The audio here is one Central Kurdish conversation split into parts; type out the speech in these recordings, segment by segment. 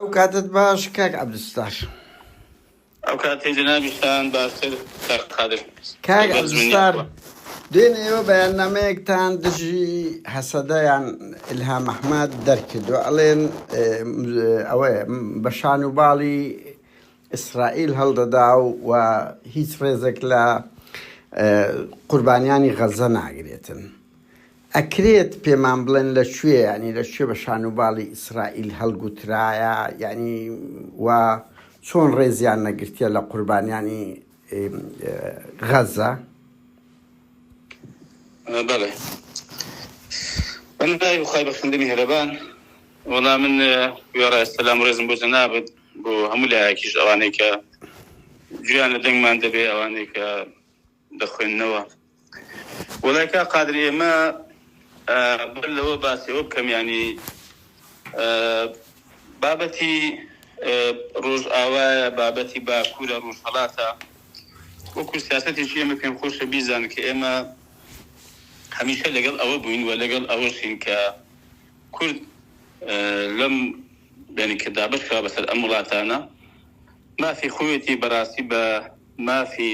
ئەو کاتت باش کاک عبدالستار. ئەو کاتی جەنابیشتان باشتر کاک قادر کاک لەگەڵ جمێنی عبدالستار ئەخوا. دوێنێ ئێوە بەیاننامەیەکتان دژی هەسەدە یان الهام احمد دەرکردوە ئەڵێن اه، ئەوەیە بە شان و باڵی ئیسرائیل هەڵدەدا و و هیچ ڕێزێک لە اه، قوربانیانی غەزە ناگرێتن ئەکرێت پێمان بڵێن لە کوێ یانی لە کوێ بە شان و باڵی ئیسرائیل هەڵگوترایە یانی و چۆن ڕێزیان نەگرتیە لە قوربانیانی غەزە؟ بەڵێ بەنای خی بەخندنی هەرەبان وەڵام من وێڕای سەسلام ڕێزم بۆ جەنابێت بۆ هەموو لایەکیش ئەوانەی کە گویان لە دەنگمان دەبێ ئەوانەی کە دەخوێننەوە وەڵای کاک قادر ئێمە بەر لەوە باسی ئەوە بکەم یانی بابەتی ڕۆژئاوایە بابەتی باکوورە ڕۆژهەڵاتە وەکو سیاستێکی ئێمە پێم خۆشە بیزان کە ئێمە هەمیشە لەگەڵ ئەوە بووین و لەگەڵ ئەوەشین کە کورد لەم بینی کە دابش کرا بەسەر ئەم وڵاتانە مافی خۆیەتی بەڕاستی بە مافی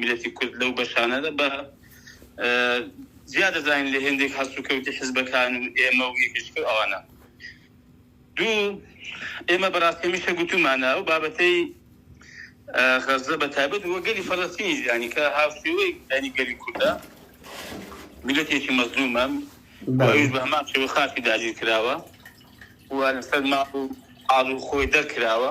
میلەتی کورد لەو بەشانەدا بە زیاد دەزانین لە هێندێک هەست و کەوتی حزبەکان و ئێمە و یەکشکە ئەوانە دوو ئێمە بەڕاستەمیشە گوتومانە ئەو بابەتەی غەزە بە تابەت وە گەلی فەڵەستینی ژیانی کە هاوشێوەی دانی گەلی کوردە میلەتێکی مەزلومە بە هەمان شێوە خاکی داگیر کراوە و لەسەر ماڵ و ئاڵ و خۆی دەرکراوە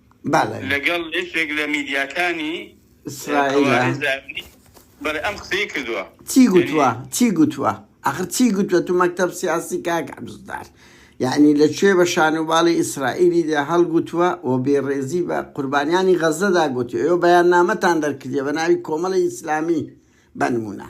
لەگەڵ یەکێک لە میدیاکانی ئیسرائیل بەڵێ ئەم قسەی کردووە چی گوتووە چی گوتووە ئەخر چی گوتووە تو مەکتب سیاسی کاک عبدالستار یعنی لە کوێ بە شانوباڵی ئیسرائیلی دا هەڵگوتووە و بێڕێزی بە قوربانیانی غەزەدا گوتی ئەو بەیان نامەتان دەرکردە بە ناوی کۆمەڵی ئیسلامی بەنمونە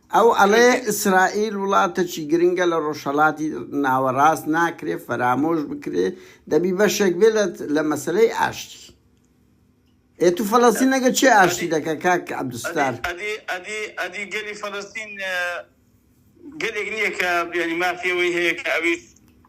ئەو ئەڵێ ئیسرائیل وڵاتەکی گرنگە لە ڕۆژهەڵاتی ناوەڕاست ناکرێ فەرامۆش بکرێ دەبی بەشێک بێ لە مەسەلەی ئاشتی ئێ تو فەلەستین ئەگە چێ ئاشتی دەکە کاک عبدالستار ئەدی ئەدی ئەدی گەلی فەلەستین گەلێک نییە کە بیانی مافی ئەوەی هەیە کە ئەویش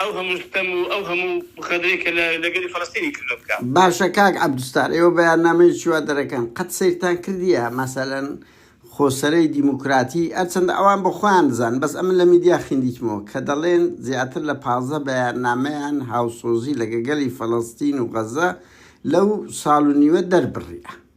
ئەو هەموو ستەم و ئەو هەموو خەدرەی کە لە لە گەلی فەلەستینی کردوە بکا. باشە کاک عەبدوستار ئێوە بەیاننامەیەکی وا دەرەکەن قەت سەیرتان کردیە مەسەلەن خۆسەرەی دیموکراتی ئەرچەندە ئەوان بە خۆیان دەزانن بەس ئەمن لە میدیا خیندیتمەوە کە دەڵێن زیاتر لە پازدە بەیاننامەیان هاوسۆزی لەگە گەلی فەلەستین و غەزە لەو ساڵ و نیوە دەربڕیە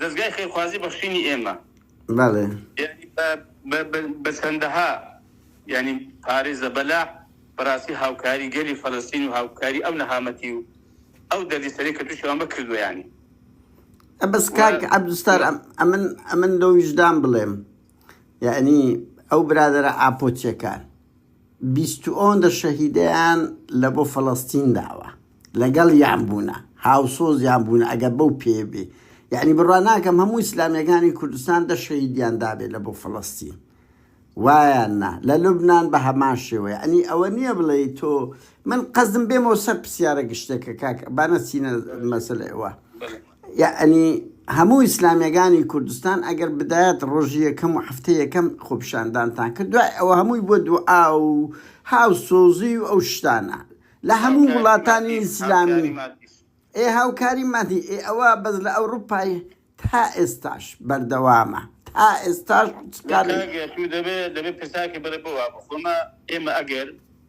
دەزگای خێرخوازی بەخشینی ئێمە بەڵێ یانی بە بە بە بە چەندەها یانی پارەی زەبەلاح بەڕاستی هاوکاری گەلی فەلەستین و هاوکاری ئەو نەهامەتی و ئەو دەردی سەرەی کە تووشی ئەمە کردویانی ئە بەس و کاک عەبدولستار ئەم ئەمن ئەمن لەو ویژدان بڵێم یعنی ئەو برادەرە ئاپۆچیەکان بیستوۆندە شەهیدەیان لە بۆ فەلەستین داوە لەگەڵیان بوونە هاوسۆزیان بوونە ئەگەر بەو پێێ بێ یعنی بڕوا ناکەم هەموو ئیسلامیەکانی کوردستان دە شەهیدیان دابێت لە بۆ فەلەستین وایان نا لە لوبناان بە هەمان شێوەیە ئەنی ئەوە نییە بڵێ تۆ من قەزم بێمەوە سەر پرسیارە گشتێکە کاک بانە چینە مەسلەوە یەعنی هەموو ئیسلامیەگانی کوردستان ئەگەر بدایەت ڕۆژی یەکەم و حەفتەی یەکەم خۆپیشاندانتان کرد دوای ئەوە هەمووی بۆ دوعا و هاو سۆزی و ئەو شتانە لە هەموو وڵاتانی ئیسلامی ئێ هاوکاری مادی ئێ ئەوە بەس لە ئەوروپای تا ئێستاش بەردەوامە تا ئێستاش دەبێت دەبێت پرساکە بەرە بۆ وابخۆمە ئێمە ئەگەر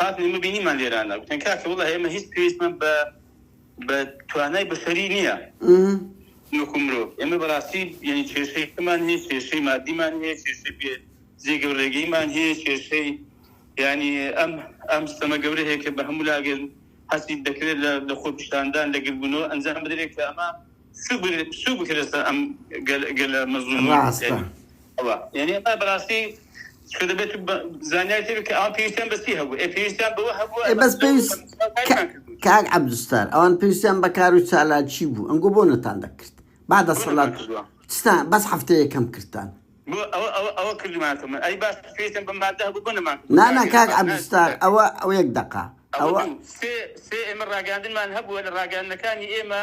هاتن ئێمە بینیمان لێرانە گوتن کاکە وەڵا ئێمە هیچ پێویستمان بە بە توانای بەشەری نییە وەکو مرۆڤ ئێمە بەڕاستی یعنی کێشەیەکمان هەیە کێشەی مادیمان هەیە کێشەی پێ جێگە و ڕێگەیمان هەیە کێشەی ینی ئەم ئەم سەمە گەورە هەیە کە بە هەموو لاگەن هەستی دەکرێت لە خۆپشاندان لەگربوونەوە ئەنجام بدرێت کە ئەمە کاک عبدستار ئەوان پێویستیان بەکار و چالاکی بوو ئەنگۆ بۆ نەتان دەکرد با دەسەڵات بەس هەفتە یەکەم کردان نانا کاک عبدستار ئەوە ئەو یەک دقا ئەوە ئێمە ڕاگەاندنمان هەبووە لە ڕاگەاندنەکانی ئێمە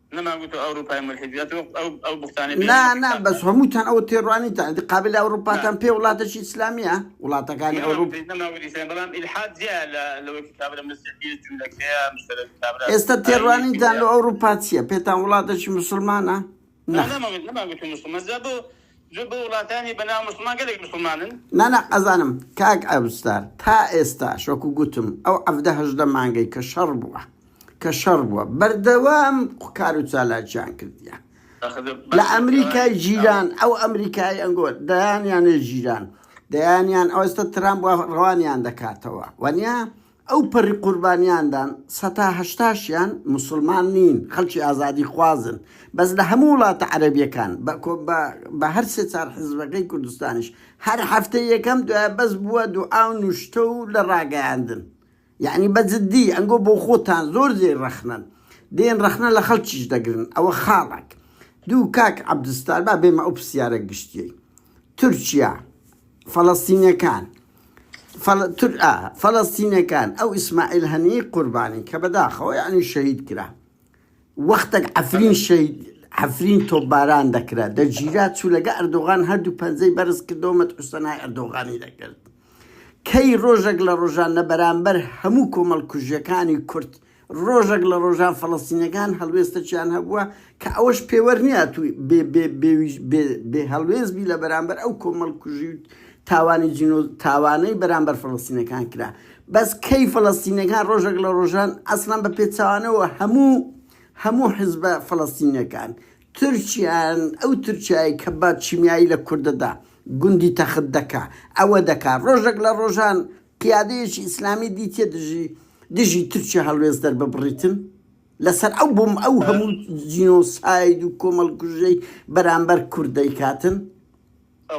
نەمان گوتوە ئەوروپای مولحید بێت وەک ئەو ئەو بوختانە بێ نا نا بەس هەمووتان ئەوە تێڕوانین تا ئەدی قابل ئەوروپاتان پێ وڵاتەکی ئیسلامیە وڵاتەکانی ئەوروپ بەڵام ئیلحاد جیا لە لەوەی کابرا مسیحیە جوولەکەیە مشترک کابرا ئێستا تێڕوانینتان لە ئەوروپا چییە پێتان وڵاتەکی مسلمانە نا نەمان گوتوە مسلمان جا بۆ زۆر بۆ وڵاتانی بە ناو موسڵمان گەلێک موسڵمانن. نانا ئەزانم کاک ئەوستار تا ئێستاش وەکو گوتم ئەو عەڤدە هەژدە مانگەی کە شەڕ بووە کە شەڕ بووە بەردەوام کارو چالاکیان کردیە لە ئەمریکای جیران ئەو ئەمریکای ئەنگۆ دەیانیانێ جیران دەیانیان ئەوستا ترامپ ڕەوانیان دەکاتەوە وەنیا ئەو پەڕی قوربانیاندان سەتا هەشتاشیان موسڵمان نین خەڵکی ئازادی خوازن بەس لە هەموو وڵاتە عەرەبیەکان بە کۆ بە بە هەر سێ چار حزبەکەی کوردستانیش هەر هەفتەی یەکەم دوایە بەس بووە دوعا و نوشتە و لە ڕاگەیاندن یەعنی بە جدی ئەنگۆ بۆ خۆتان زۆر جێی ڕەخنەن دێن ڕەخنە لە خەڵکیش دەگرن ئەوە خاڵەک دوو کاک عەبدولستار با بێمە ئەو پرسیارە گشتیەی تورکیا فەڵەستینەکان فەلەستینەکان ئەو ئیسماعیل هەنیەی قوربانی کە بەداخەوە یەعنی شەهید کرا وەختەک عەفرین شەهید عەفرین تۆپباران دەکرا دەگیرا چوو لەگە ئەردۆغان هەردوو پەنجەی بەرز کردەوە مەتحوسەنای ئەردۆغانی دەکرد کەی ڕۆژەک لە ڕۆژان لە بەرامبەر هەموو کۆمەڵکوژیەکانی کورد ڕۆژەک لە ڕۆژان فەڵەستینیەکان هەڵوێستەکیان هەبووە کە ئەوەش پێوەر نیە تو بێ هەڵوێست بی لە بەرامبەر ئەو کۆمەڵکوژی و تاوانی جینۆ تاوانەی بەرامبەر فەڵەستینەکان کرا بەس کەی فەڵەستینەکان ڕۆژێک لە ڕۆژان ئەسڵان بە پێچوانەوە هەموو هەموو حزبە فەڵەستینەکان تورکیان ئەو تورکایی کە بە چیمیایی لە کوردەدا گوندی تەخت دەکا ئەوە دەکا ڕۆژێک لە ڕۆژان قیادەیەکی ئیسلامی دی تێ دژی دژی تورکیا هەڵوێست دەرببڕیتن لەسەر ئەو بۆم ئەو هەموو جینۆساید و کۆمەڵکوژەی بەرامبەر کورد دەیکاتن؟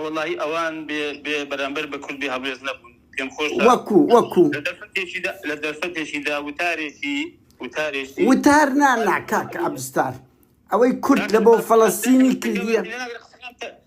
وەڵاهی ئەوان بێ بێ بەرامبەر بە کورد بێ هەڵوێست نەبوون پێم خۆشە وەکو وەکو لە دەرفەتێکیدا لە دەرفەتێکیدا وتارێکی وتارێکی وتار نا نا کاک عەبستار ئەوەی کورد لە بۆ فەڵەستینی کردیە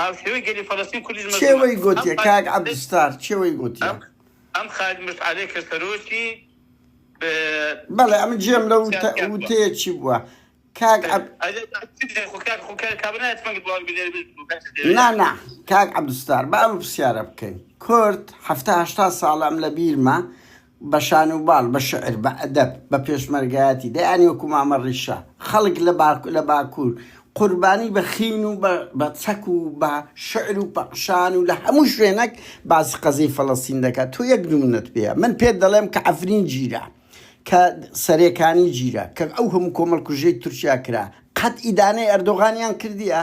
هاوشێوەی گەلی فەلەستین کوردیش مەزنە. کێ وەی گۆتیە کاک عەبدستار کێ وەی گۆتیە؟ ئەم خالید مشعەلەی کە سەرۆکی بەڵێ ئەمن جێم لە وتەیە چی بووە کاک نانا کاک عەبدستار با ئەم پرسیارە بکەین کورد هەفتاهشتا ساڵە ئەم لە بیرمە بە شان و باڵ، بە شعر، بە ئەدەب، بە پێشمەرگایەتی، دەیان وەکو مامە ڕیشە، خەڵک لە باکو لە باکوور، قوربانی بە خین و بە بە چەک و بە شعر و پەخشان و لە هەموو شوێنەک باسی قەزیەی فەلەستین دەکا. تۆ یەک نموونەت پێیە. من پێت دەڵێم کە عەفرین گیرا، کە سەرێکانی گیرا، کە ئەو هەموو کۆمەڵکوژیەی تورکیا کرا، قەت ئیدانەی ئەردۆغانیان کردیە؟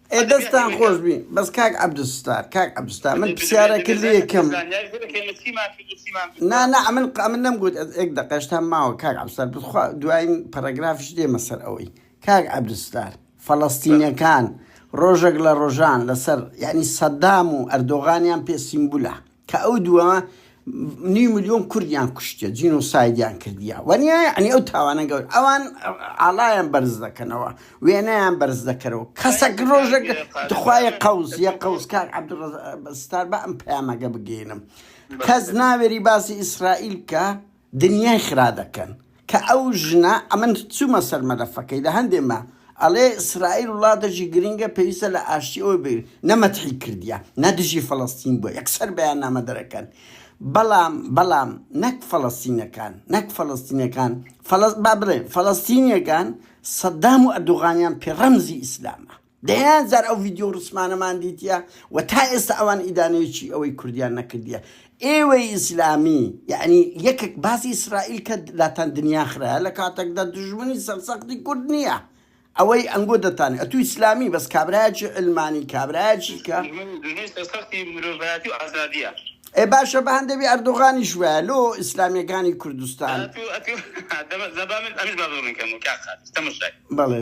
ئێ دەستتان خۆش بی بەس کاک عەبدولستار کاک عەبدولستار من پرسیارەک لێکم نا نا ئەمن قامن نەم گوت ئەز ئێک دەقەشتان ماوە کاک عەبدولستار بخوا دواین پەرەگرافش دێمە سەر ئەوەی کاک عەبدولستار فەلەستینەکان ڕۆژێک لە ڕۆژان لەسەر یعنی سەدام و ئەردۆغانیان پێ سیمبولە کە ئەو دووە نیو ملیۆن کوردیان کوشتە جینۆسایدیان کردیە وەنیە ئەنی ئەو تاوانە گەور ئەوان ئاڵایان بەرز دەکەنەوە وێنەیان بەرز دەکەرەوە کەسەک ڕۆژێک تخوایە قەوز یە قەوزکار عبدڕستار بە ئەم پەیامەگە بگەینم کەس ناوێری باسی ئیسرائیل کە دنیای خرا دەکەن کە ئەو ژنە ئەمن چومە سەر مەلەفەکەی لە هەندێ مە ئەڵێ ئیسرائیل وڵاتە ژی گرنگە پێویستە لە ئاشتی ئەوە بێ نە مەتحی کردیە نە دژی فەلەستین بوە یەک سەر بەیان نامە دەرەکەن بەڵام بەڵام نەک فەلەستینەکان نەک فەلەستینەکان فەلەست با بڵێ فەلەستینیەکان سەدام و ئەردوغانیان پێ ڕەمزی ئیسلامە دەیان جار ئەو ڤیدیۆ و ڕسمانەمان دیتیە و تا ئێستا ئەوان ئیدانەیەکی ئەوەی کوردیان نەکردیە ئێوەی ئیسلامی یەعنی یەکێک باسی ئیسرائیل کە لاتان دنیا خراە لە کاتەکدا دوژمنی سەرسەختی کورد نییە ئەوەی ئەنگۆ دەتانێ ئەتوو ئیسلامی بەس کابراایەکی علمانی کابراایەکی کە ئێ باشە بە هەندێوی ئەردۆغانیش وایە لۆ ئیسلامیەکانی کوردستان بەڵێ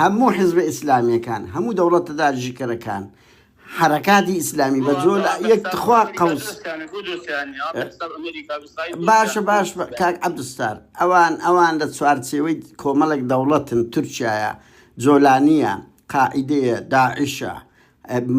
هەموو حزبە ئیسلامیەکان هەموو دەوڵەتە داریژکەرەکان حەرەکاتی ئیسلامی بە جۆ لە یەک تخوا قەوس باشە باش کاک عبدستار ئەوان ئەوان لە چوارچێوەی کۆمەڵێک دەوڵەتن تورکایە جۆلانیە قاعدەیە داعشە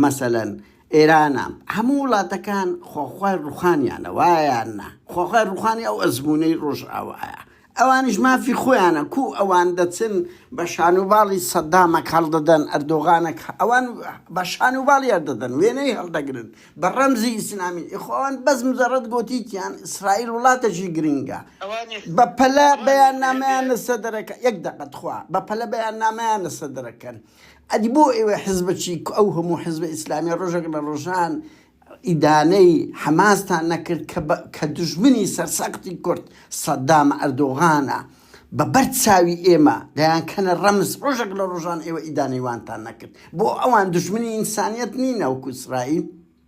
مەسەلەن ئێرانە هەموو وڵاتەکان خۆخوای ڕوخانیانە وایان نا خۆخوای ڕوخانی ئەو ئەزمونەی ڕۆژئاوایە ئەوانیش مافی خۆیانە کو ئەوان دەچن بە شانوباڵی سەدامەک هەڵدەدەن ئەردۆغانەک ئەوان بە شانوباڵی هەردەدەن وێنەی هەڵدەگرن بە ڕەمزی ئیسلامی ئیخۆن بەس مزەڕەت گۆتیتیان ئیسرائیل وڵاتەکی گرنگە بە پەلە بەیان نامیان لەسەر دەرەکە یەک دەقە تخوا بە پەلە بەیان نامیان لەسەر دەرەکەن ئەدی بۆ ئێوە حزبە چی ئەو هەموو حزبە ئیسلامیە ڕۆژێک لە ڕۆژان ئیدانەی حەماستان نەکرد کە بە کە دوژمنی سەرسەختی کورد سەدام ئەردۆغانە بە بەر چاوی ئێمە دەیان کەنە ڕەمز ڕۆژێک لە ڕۆژان ئێوە ئیدانەی وانتان نەکرد بۆ ئەوان دوژمنی ئینسانیەت نین ناوکو ئیسرائیل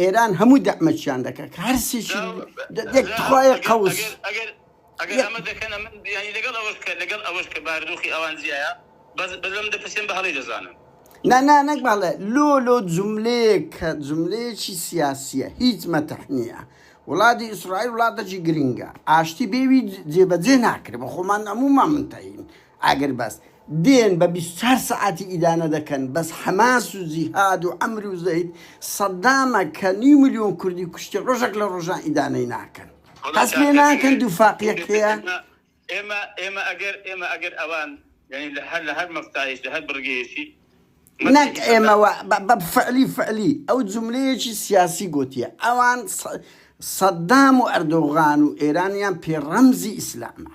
ئێران هەموو دەعمەچیان دەکات کە هەرسێکی دەخوایە قەوس ئەگەر ئەمە دەکەن ئەمە بیانی لەگەڵ ئەوەش کە لەگەڵ ئەوەش کە باردۆخی ئەوان زیایە بەس بەلەم دەپرسێن بە هەڵی دەزانن نا نا نەک باڵێ لۆ لۆ جملەیە کە جملەیەکی سیاسیە هیچ مەتەح نییە وڵاتی ئیسرائیل وڵاتەکی گرنگە ئاشتی بێوی جێبەجێ ناکرێت بە خۆمان هەموومان منتەین ئاگر بەست دێن بە بیست و چوار سەعاتی ئیدانە دەکەن بەس حەماس و جیهاد و عەمر و زەید سەدامە کە نیو ملیۆن کوردی کوشتی ڕۆژەک لە ڕۆژان ئیدانەی ناکەن هەست پێ ناکەن دووفاقیەک هەیە ئێمە ئێمە ئەگەر ئێمە ئەگەر ئەوان یعنی لە هەر لە هەر مەفتایش لە هەر بڕگەیەکی نەک ئێمەوە بە فعلی فعلی ئەو جملەیەکی سیاسی گوتیە ئەوان سەدام و ئەردۆغان و ئێرانیان پێ ڕەمزی ئیسلامە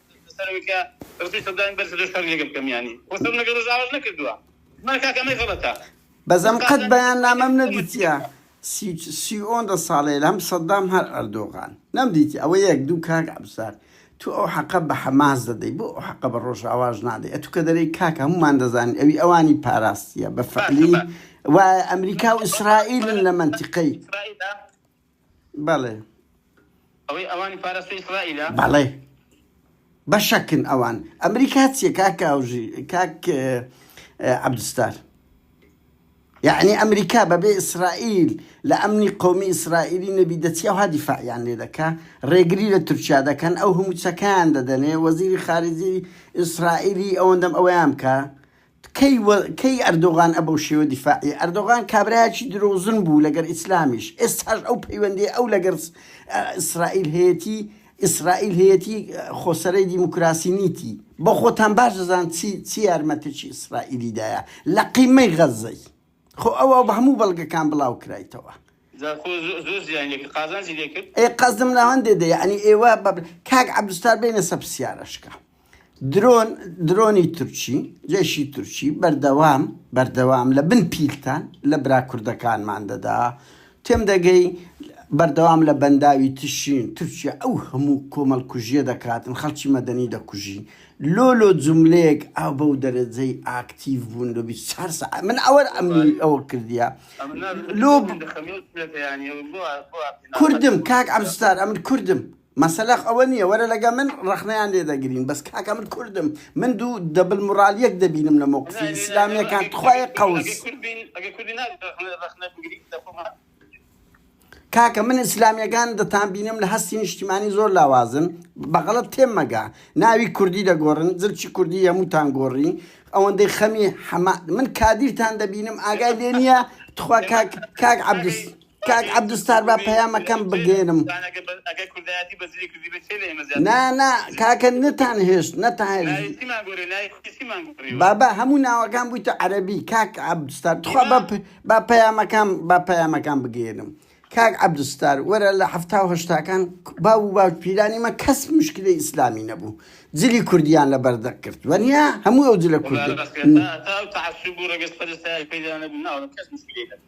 لەسەر ئەوەی کە ڕستی سەدامی بەرز کردووە شەڕی لەگەڵ بکەم یانی خۆ شەڕم لەگەڵ ڕۆژئاواش نەکردووە من کاکە ئەمەی غەڵەتە بەزەم قەت بەیاننامەم نەدیتیە سی سی ئۆن دە ساڵەیل هەم سەدام هەر ئەردۆغان نەم دیتی ئەوە یەک دوو کاک عەبزار تو ئەو حەقە بە حەماس دەدەی بۆ ئەو حەقە بە ڕۆژاواش نادەی ئەتو کە دەرێی کاکە هەمومان دەزانین ئەوی ئەوانی پاراستیە بە فەعلی وایە ئەمریکا و ئیسرائیلن لە مەنتیقەی بەڵێ. ئەوەی ئەوانی پاراستوی ئیسرائیلە؟ بەڵێ. بەشەکن ئەوان. ئەمریکا چیە کاک ئاوژی کاک عەبدستار؟ یعنی ئەمریکا بەبێ ئیسرائیل لە ئەمنی قومی ئیسرائیلی نەبی دەچی ئەوها دیفاعیان لێ دەکا ڕێگری لە تورکیا دەکەن ئەو هەموو چەکان دەدەنێ وەزیری خارجی ئیسرائیلی ئەوەندەم ئەویان بکە کەی و کەی ئەردۆغان ئە بەو شێوە دیفاعی ئەردۆغان کابرایەکی درۆزن بوو لەگەر ئیسلامیش ئێستاش ئەو پەیوەندی ئەو لەگەر ئیسرائیل هەیەتی ئیسرائیل هەیەتی خۆ سەرەی دیموکراسی نیتی بەخۆتان باش دەزان چی چی یارمەتیی ئیسرائیلی دایە لە قیمەی غەزەی خۆ ئەوە بە هەموو بەڵگەکان بڵاو کرایتەوە. جا خۆ زۆر زیانی لێ کرد قازانجی لێ کرد. ئێ قەزم لەوەندێ دە یەعنی ئێوە بە کاک عەبدولستار بێنە سە پرسیارەشکە درۆن درۆنی تورکی جەیشی تورکی بەردەوام بەردەوام لە بن پیلتان لە برا کوردەکانمان دەدا تێم دەگەی بەردەوام لە بەنداوی تشرین تورکیا ئەو هەموو کۆمەڵ کوژیە دەکاتن خەڵکی مەدەنی دەکوژی لۆ لۆ جوملەیەک ئاو بەو دەرەجەی ئاکتیڤ بوون لۆ بیست چار سەعات من ئەوە ئەمنی ئەوە کردیە لۆ کوردم کاک عەبدولستار ئەمن کوردم مەسەلەخ ئەوە نیە وەرە لەگە من ڕەخنەیان لێ دەگرین بەس کاکە من کوردم من دوو دەبل موڕالیەک دەبینم لە مەوقفی ئیسلامیەکان تخوایە قەوس کاکە من ئیسلامیەکان دەتان بینم لە هەستی نیشتیمانی زۆر لاوازن بەغەڵت تێم مەگە ناوی کوردی دەگۆڕن زرچی کوردی یەموتان گۆڕی ئەوەندەی خەمی حەما من کادیرتان دەبینم ئاگای لێ نیە تخوا کاک کاک عەبدوس کاک عبدو ستار با پەیامەکەم بگێرم. یان ئەگەر بە ئەگەر کوردایەتی بە زلی کوردی بێ چێ لە ئێمە زیاتر نا نا کاکە نتان هێشت نتان هێشت ناوی چیمان گۆرێ ناوی کوردی چیمان گۆریوە بابا هەموو ناوەکان بوویتە عەرەبی کاک عەبدستار تخوا با, پ... با پەیامەکان با پەیامەکان بگێرم کاک عەبدستار وەرە لە حەفتا و هەشتاکان باو و باوک پیرانی مە کەس مشکلی ئیسلامی نەبوو جلی کوردیان لە بەردەق کرد وەنیا هەموو ئەو جلە والله کوردە بس تا تا تعصب و رگز پرستای پیدا نبود نه آدم کس مشکلی نه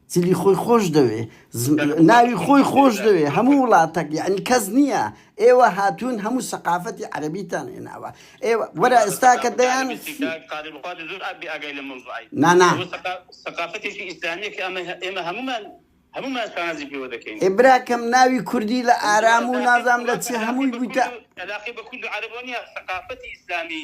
جلی خۆی خۆش دەوێ ناوی خۆی خۆش دەوێ هەموو وڵاتەک یعنی کەس نییە ئێوە هاتوون هەموو سەقافەتی عەربیتان هێناوە ئێوە وەرە ئێستا کە دەیان نانا سەقافەتێکی ئیسلامیە کە ئەمە ئێمە هەمومان هەمومان شانازی پێوە دەکەین ئێبراکەم ناوی کوردی لە ئارام و نازام لە چی هەمووی بوویتە علاقی بە کورد عربۆنیە سەقافەتی ئیسلامی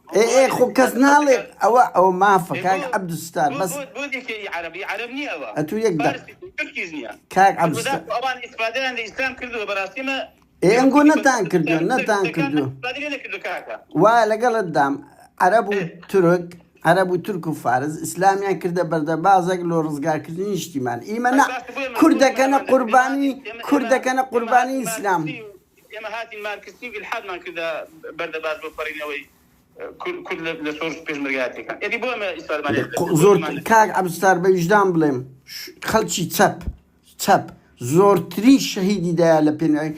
ئێ ئێ خۆ کەس ناڵێت ئەوە ئەوە مافە کاک عەبدولستار بەس ئەتوو یەک دەق کاک عەبدولستار ئێ ئەنگۆ نەتان کردو نەتان کردو وا لەگەڵت دام عەرەب و تورک عەرەب و تورک و فارز ئیسلامیان کردە بەردەبازێک لۆ ڕزگارکردنی نیشتیمان ئیمە نە کوردەکەنە قوربانی کوردەکەنە قوربانی ئیسلام. ئێمە هاتین مارکسیی و ئیلحادمان کردە بەر دەباس بۆ پەڕینەوەی کورد لە شۆڕش و پێشمەرگایەتییەکان. ئێدی بۆ ئێمە ئیسالمانییەت دەبێت؟ بۆ زۆر بۆمان دەبێت؟ کاک عەبستار بە ویژدان بڵێم خەڵکی چەپ چەپ زۆرترین شەهیدی دایە لە پێناوی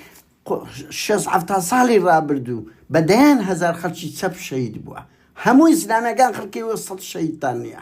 شێست حەفتا ساڵی ڕابردوو بە دەیان هەزار خەڵکی چەپ شەهید بووە هەمووی زلانەکان خەڵکی وە سەد شەهیدتان نییە.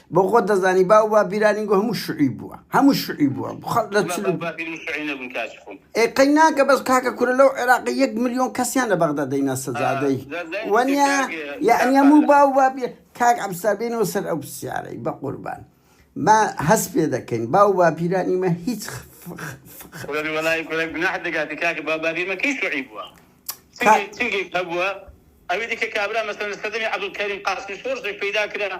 بۆ خۆت دەزانی باو با بیرانی گو هەموو شعی بووە هەموو شعی بووە بخەڵ لە ئێقەی ناکە بەس کاکە کورە لەو عێراقی یەک میلیۆن کەسیان لە بەغدا دەینا سەجادەی وەنیا یعنی هەموو باو با کاک ئەمسابێنەوە سەر ئەو پرسیارەی بە قوربان ما هەست پێ دەکەین باو با پیرانی مە هیچ گوناح دەگاتی کاکە با بابیمە کەی شعی بووە هەبووە ئەوی دیکە کابرا مەسەن لە سەدەمی عبدالکەریم قاسمی شۆرزێک پیدا کرا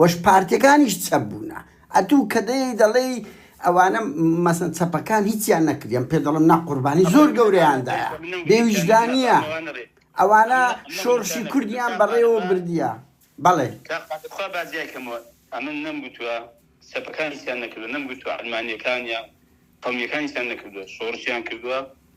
وەش پارتیەکانیش چەپ بوونە ئەتوو کە دەیەی دەڵێی ئەوانە مەسەن چەپەکان هیچیان نەکریەم پێ دەڵم نا قوربانی زۆر گەورەیان دایە بێ ویژدانیە ئەوانە شۆڕشی کوردیان بەڕێوە بردیە بەڵێ تخوا با جیای کەمەوە ئەمن نەم گوتوە چەپەکان هیچیان نەکردوە نەم گوتوە عەلمانیەکان یا قەومیەکان هیچیان نەکردوە شۆڕشیان کردوە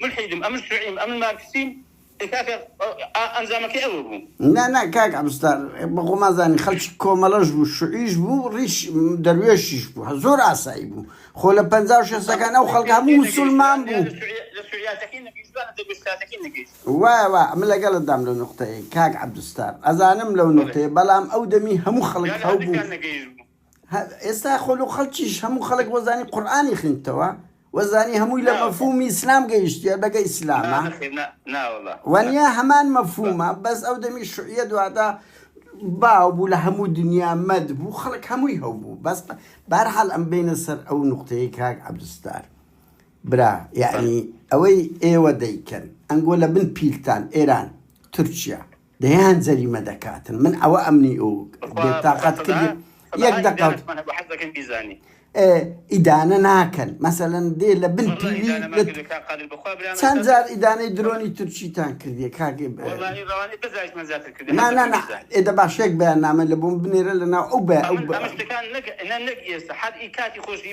مولحیدم ئەمن شوعیم ئەمن مارکسیم ئێ کاکە ئا ئەنجامەکەی ئەوە بوو. نا نا کاک عەبستار بە خۆمان زانین خەلکی کۆمەلەش بوو شوعیش بوو ریش دەروێشیش بوو زۆر ئاسایی بوو خۆ لە پەنجا و شەستەکان ئەو خەلکە هەموو موسولمان بوو وایە وایە ئەمن لەگەلت دام لەو نوقتەیەی کاک عەبدستار ئەزانم لەو نوقتەیە بەلام ئەو دەمی هەموو خەلک هەبوو. ئێستا خۆلو خەڵکیش هەموو خەڵک وەزانی قورئانی خویندتەوە وەزانی هەمووی لە مەفهومی ئیسلام گەیشتیە بەگە ئیسلامە وەنیە هەمان مەفهومە بەس ئەو دەمی شوعیە دوادا باو بوو لە هەموو دنیا مەد بوو خەڵک هەمووی هەو بوو بەس بارحال ئەم بینە سەر ئەو نقطەیە کاک عبدستار برا یعنی ئەوەی ئێوە دەیکەن ئەنگۆ لە بن پیلتان ئێران تورکیا دەیان جەریمە دەکاتن من ئەوە ئەمنی و بێ تاقەت کردی یەک دەقە ئیدانە ناکەن مەسەەن دێ لە بن پیوی چەند جار ئیدانەی درۆنی تورکیتان کردی کاگە ئێدە باشێک بەیان نامە لە بووم بنێرە لە ناو ئەو بە ئەو ئێستا حەدی کاتی خۆشی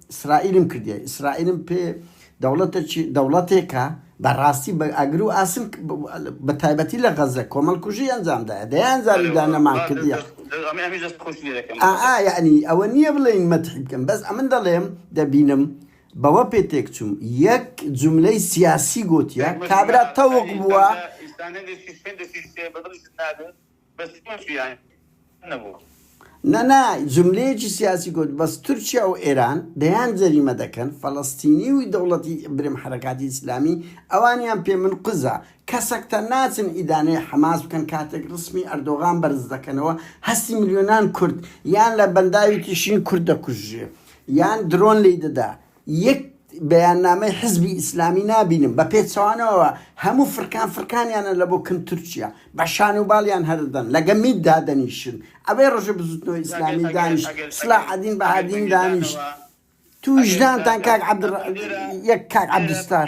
ئیسرائیلم کردیە ئیسرائیلم پێ دەوڵەتەکی دەوڵەتێکە بەڕاستی بە ئەگر و ئاسن بە تایبەتی لە غەزە کۆمەڵ کوژی ئەنجامدایە دەیان زاری دا نەمان کردیە یعنی ئەوە نییە بڵێن مەتحی بکەم بەس ئەمن دەڵێم دەبینم بەوە پێ تێک چوم یەک جملەی سیاسی گوتیە کابرا تەوق بووە بەس تۆ جویانی نەبوو. نا نا جملەیەکی سیاسی گوت بەس تورکیا و ئێران دەیان جەریمە دەکەن فەلەستینی و دەوڵەتی برم حەرەکاتی ئیسلامی ئەوانیان پێ من قزە کەسەکتە ناچن ئیدانەی حەماس بکەن کاتێک رسمی ئەردۆغان بەرز دەکەنەوە هەستی ملیۆنان کورد یان لە بەنداوی تیشرین کورد دەکوژرێ یان درۆن لێی دەدا یەک بەیاننامەی حزبی ئیسلامی نابینم بە پێچەوانەوە هەموو فرکان فرکانیانە لە بۆ کم تورکیا بە شان و باڵیان هەردەن لەگە میت دادەنیشن ئەوەی ڕژە بزوتنەوە ئیسلامی دانیش سلا عدین بەهادین دانیش تو وجدانتان کاک عبد یەک کاک عبدستار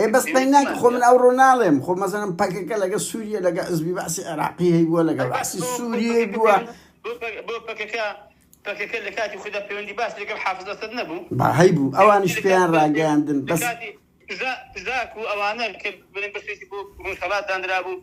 ئێ بەس پەی ناکە خۆ من ئەوڕۆ ناڵێم خۆ مەزەنم پەکەکە لەگە سووریە لەگە ئەزبی بەعسی عێراقی هەی بووە لەگە بەعسی سووریە بووە با هەی بوو ئەوانیش پێیان ڕاگەیاندن بەس زاکو ئەوانە بۆ ڕۆژهەڵات دانرابوو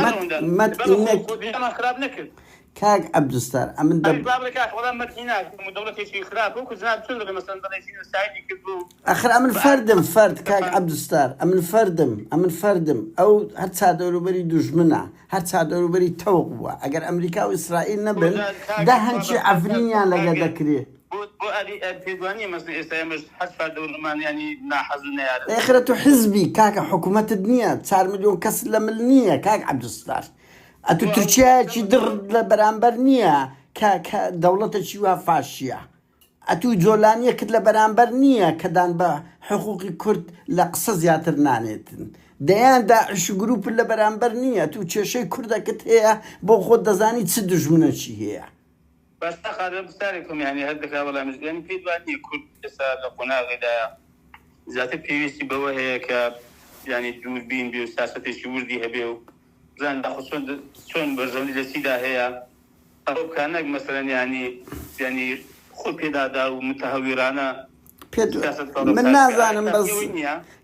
مەت مەت هینەک کاک عبدالستار ئەمن دەب ئەخر ئەمن فەردم فەرد کاک عبدالستار ئەمن فەردم ئەمن فەردم ئەو هەر چادەوروبەری دوژمنە هەر چادەوروبەری تەوق بووە ئەگەر ئەمریکا و ئیسرائیل نەبن دا هەنچی عفرینیان لەگە دەکرێت بۆ بۆ ئاری ئەر پێت وانیە مەسن ئێستا ئێمەش حەج فەردەوونمان یانی ناحەز و نەیارە. ئێخرە تو حزبی کاکە حکومەتت نیە چار ملیۆن کەست لە مل نیە کاک عبدالستار ئەتو بۆ ئەوە تورکیایە چی دڕ نامردوو لە بەرامبەر نیە کە کە دەوڵەتە چی وا فاشیە ئەتو جۆلانیە کت لە بەرامبەر نیە کە دان بە حقوقی کورد لە قسە زیاتر نانێتن دەیان داعش و گروپت لە بەرامبەر نیە ئەتو کێشەی کوردە کت هەیە بۆ خۆت دەزانی چ دوژمنە چی هەیە بەسە قادر پرسیارێک هەم یانی هەر دەکا وەلامیش دەم یانی پێت وا نیە کورد ئێستا لە قۆناغێ دایە زیاتر پێویستی بەوە هەیە کە یانی دوور بین بێ و سیاسەتێکی وردی هەبێ و بزان داخۆ چۆن چۆن بەرژەوەندی لە چیدا هەیە ئەوە بکا نەک مەسەلەن یانی یانی خۆ پێدادا و متەهەویرانە من نازانم بەس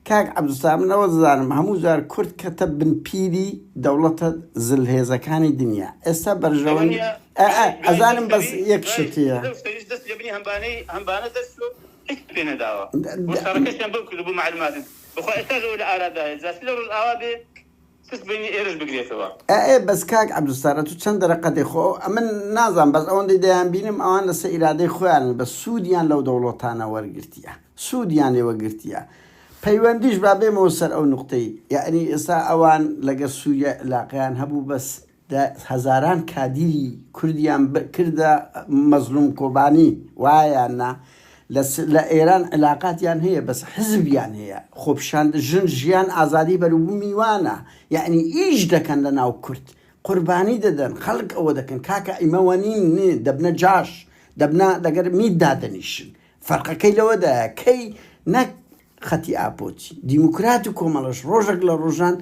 کاک عبدالسلام من ئەوە دەزانم هەموو جار کورد کەتە بن پیری دەوڵەتە زل هێزەکانی دنیا ئێستا بەرژەوەنی ئەزانم بەس یەک شتیە بخوا ئێستا لە ئاوا بێ پشت بینی ئێرش بگرێتەوە. ئە ئێ بەس کاک عەبدولستار ئەتوو چەن دەرەقەتێ خۆ ئەو ئەمن نازانم بەس ئەوەندەی دەیان بینم ئەوان لەسە ئیرادەی خۆیانن بەس سوودیان لەو دەوڵەتانە وەرگرتیە سوودیان لێ وەگرتیە پەیوەندیش با بێمەوە سەر ئەو نوقتەی یەعنی ئێستا ئەوان لەگەر سووریای علاقەیان هەبوو بەس دە هەزاران کادیری کوردیان بئ کردە مەزلوم کۆبانی وایە نا لە لە ئێران علاقاتیان هەیە بەس حزبیان هەیە خۆپیشاند ژن ژیان ئازادی بەروبومی وانە یەعنی ئیش دەکەن لە ناو کورد قوربانی دەدەن خەلک ئەوە دەکەن کاکە ئیمە وەنین نێ دەبنە جاش دەبنە لەگەر میت دادەنیشن فەرقەکەی لەوەدایە کەی نەک خەتی ئاپۆچی دیموکرات و کۆمەڵەش ڕۆژەک لە ڕۆژان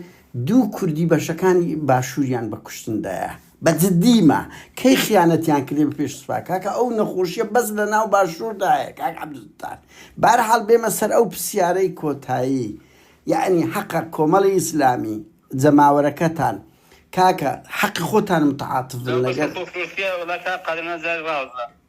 دوو کوردی بەشەکانی باشووریان بە کوشتن دایە بە جدی ما کەی خیانەتیان کردێ بە پێش سوپا کاکە ئەو نەخۆشیە بەس لە ناو باشوور دایە کاک عەبدولستار بارحاڵ بێمە سەر ئەو پسیارەی کۆتایی یەعنی حەقە کۆمەڵی ئیسلامی جەماوەرەکەتان کاکە حەقی خۆتان متعاتف بن لەگەر.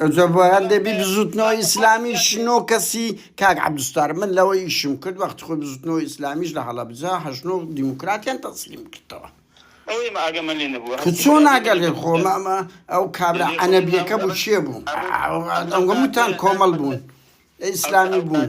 ئەوجا بۆیان دەبی بزوتنەوە ئیسلامیش نۆ کەسی کاک عبدستار من لەوە ئیشم کرد وەخت خۆی بزوتنەوە ئیسلامیش لە هەڵەبجا هەژنۆ دیموکراتیان تەسلیم کردەوە چۆن ناگەلێ خۆمەمە ئەو کابرا ئەنەبیەکە بوو چێ بوو ئەوگەموتان کۆمەڵ بوون ئیسلامی بوون.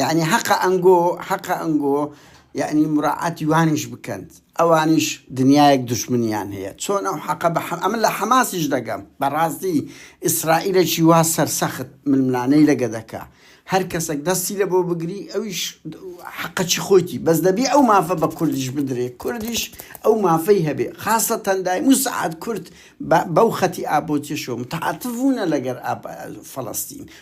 یەعنی حەقە ئەنگۆ حەقە ئەنگۆ یەعنی مراعاتی وانیش بکەن ئەوانیش دنیایەک دوشمنیان هەیە چۆن ئەو حەقە بە ئەمن لە حەماسیش دەگەم بەڕاستی ئیسرائیلێکی وا سەرسەخت ململانەی لەگە دەکا هەر کەسێک دەستی لە بۆ بگری ئەویش حەقەچی خۆیتی بەس دەبی ئەو مافە بە کوردیش بدرێ کوردیش ئەو مافەی هەبێ خاصە تەندای موسعات کورد بەو خەتی ئابۆچێشەوە متعاتف بوونە لەگەر فەڵەستین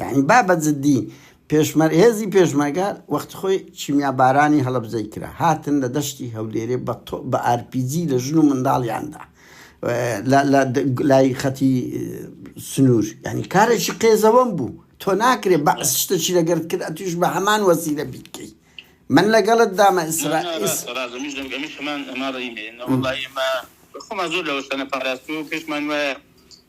یانی با بە جدی پێشمەر هێزی پێشمەرگە وەخت خۆی کیمیا بارانی هەڵەبجەی کرا هاتن لە دەشتی هەولێرێ بە تۆپ بە ئارپیجی لە ژن و منداڵیان دا لە لە لای خەتی سنوور یانی کارێکی قێزەوەم بوو تۆ ناکرێ بەعس شتەکی لەگەرت کرد ئەتویش بە هەمان وەسیلە بیکەی من لەگەڵت دامە ئیسرا ئیس ڕاز ئەمیش دەم ئەمیش هەمان ئەما ڕەیمێ نە وەڵا ئێمە خۆمان زۆر لەوە شتانە پاراستووە و پێشمان وایە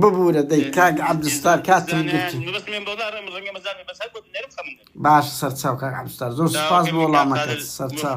ببورە دەی کاک عەبدولستار کاتم گرتووە. باشە سەرچاو کاک عەبدولستار زۆر سوپاس بۆ وەڵامەکەت سەرچاو.